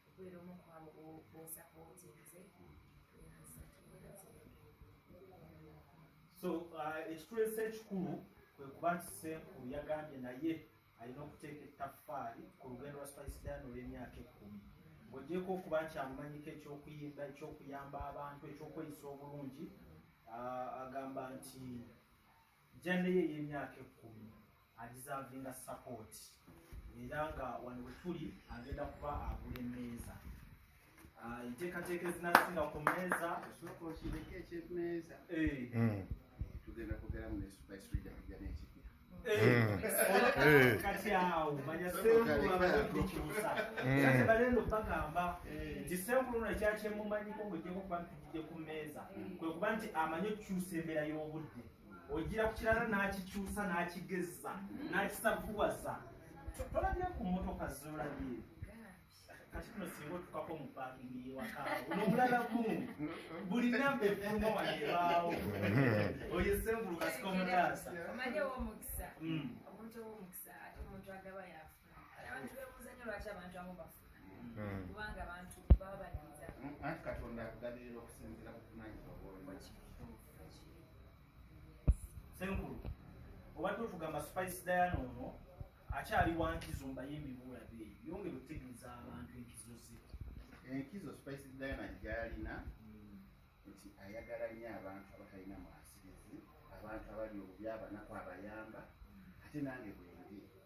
okubeera omu kwabo bosapootinze so uh, ekitulesa ekikulu kwe kuba nti senkulu yagambye naye alina okuteeka ettaffaali ku lugendo lwa spice dan olw'emyaka ekkumi ng'ogyeko okuba nti amumanyiko ekyokuyimba ekyokuyamba abantu ekyokweyisa obulungi uh, agamba nti Jane ye y'emyaka ekkumi agizavinga sapooti era nga wano we tuli agenda kuba agula emmeeza ah, enteekateeka ezinasinga ku mmeeza osooka okireka ekyemeeza eh. hmm. tugenda kugeramu ne spice reader kujja n'ekipya eh. hmm. kati awo manya senkulu abaekibusa hmm. kati balendo bagamba nti senkulu nakyakyemumanyiko ngojeko kubantu kye ku mmeeza kwe kuba nti amanyi okukyusa embeera y'obudde ogira ku kirala n'akikyusa n'akigezza n'akisavuwaza tolabye ku mmotoka zolabye kati kuno singa otukako mu paakingi yewaka nomulala gumu buli namba efuluma wanebaawo oyo sengulu kasika omutaasa omanyi owomukisa mm. omuntu owomukisa ate omuntu agaba yafa abantu bebuuza nyo lwaki abantu amu bafu hmm. kubanga abantu baba baniza hmm, anti katonda akugabirira okusinzira kuvunanyizibwa senkulu obadde otugamba spice diana ono akyali wankizo mbayimbi bulabe yongera okutegeeza abantu enkizo ze enkizo spice diana gyalina hmm. nti ayagala nyo abantu abatalina mwasirizi abantu abali obubi abanaku abayamba ate nange bwendi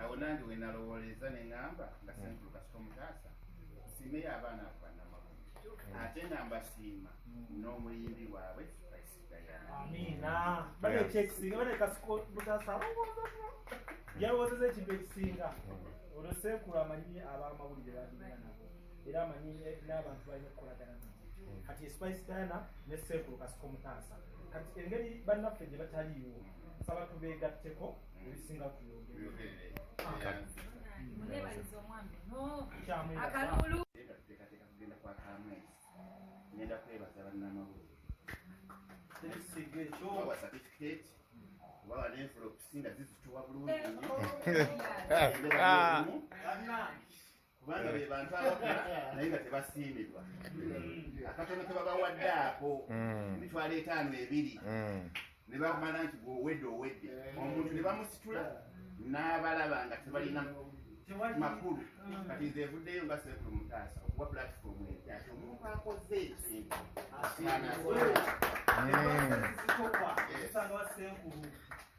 awo nange wenalowooleza neŋamba nga senkulu kasita omutaasa simeyo abaana abo banamagumu ate nga mbasiima n'omuyimbi waabwe yalowozeza ekintu ekisinga olwo senkulu amanyi abamawulire bagenda nabo era amanyi n'abantu balina okukolagana nabo kati spice diana ne senkulu kasita omutaasa kati engeri bannaffe gye bataliiwo nsaba tubeegatteko ebisinga tuyogere akalulu teekateeka kugenda kwa kamwezi ngenda kwebaza bannamawulire tekisigga ekyo wa certificate oba banenfula okusinga zizituwa bulungi nnyo kubanga be bantu abakola naye nga tebasiimibwa akatono kebabawadde ako mm. emitwalo etaano ebiri mm. ne bamala nti gwowedde owedde omuntu ne bamusitula n'abalaba nga tebalina makulu mm. kati nze evuddeyo nga sekulu mutaasa okuwa pulatifomu ekyati omuntu akoze ekintu asiimibwa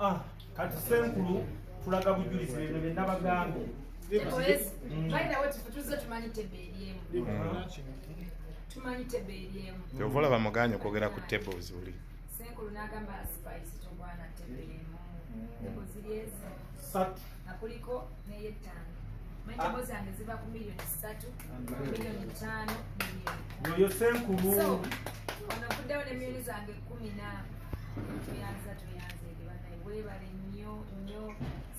Ah, kati senkulu tulaga bujulizi bino bye nabagambye kyova olaba muganya okwogera ku tables uli senkulu nagamba spice tobwana tebelemu satu akuliko neyettaano ah. mbo zange ziva ku miliyoni satu miliyoni taano oyo senkulu onavuddewo ne miliyoni zange kumi na tuyanza tuyanza ebibanaye webale nnyo nnyo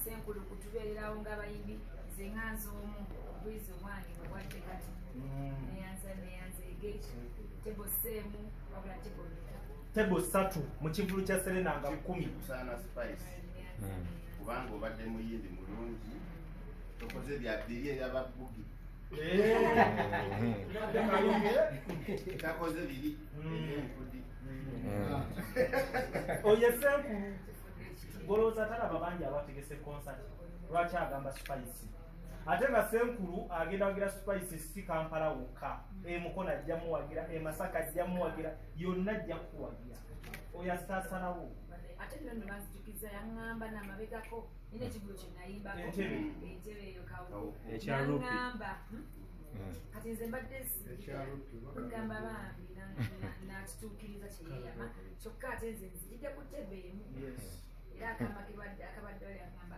senkulu kutubeererawo ng'abayimbi nze nga nze omu obwizi obwange obwadde kati mm. neyanza neyanza egeki tebo seemu wabula tebo tebo satu mu kivulu kya serena nga kumi kusaana spice hmm. kubanga obadde muyindi mulungi tokoze bya biri eyababugi takoze biri enkudi oyo esenkulu golowooza talaba bangi abategese concert lwaki agamba spice ate nga senkulu agenda wagira spice si kampala wokka emukono ajja muwagira emasaka ajja muwagira yonna ajja kukuwagira oyo asasalawo ate nno no banzijukiza yaŋŋamba namabegako nina ekigulu kye nayimbako entebe eyo kawonaŋŋamba hmm? hmm. kati nze mbadde sigamba bambi nakituukiriza kyeyeyama kyokka ate nze nzijidde ku tebe emu era akabadde akabaddole agamba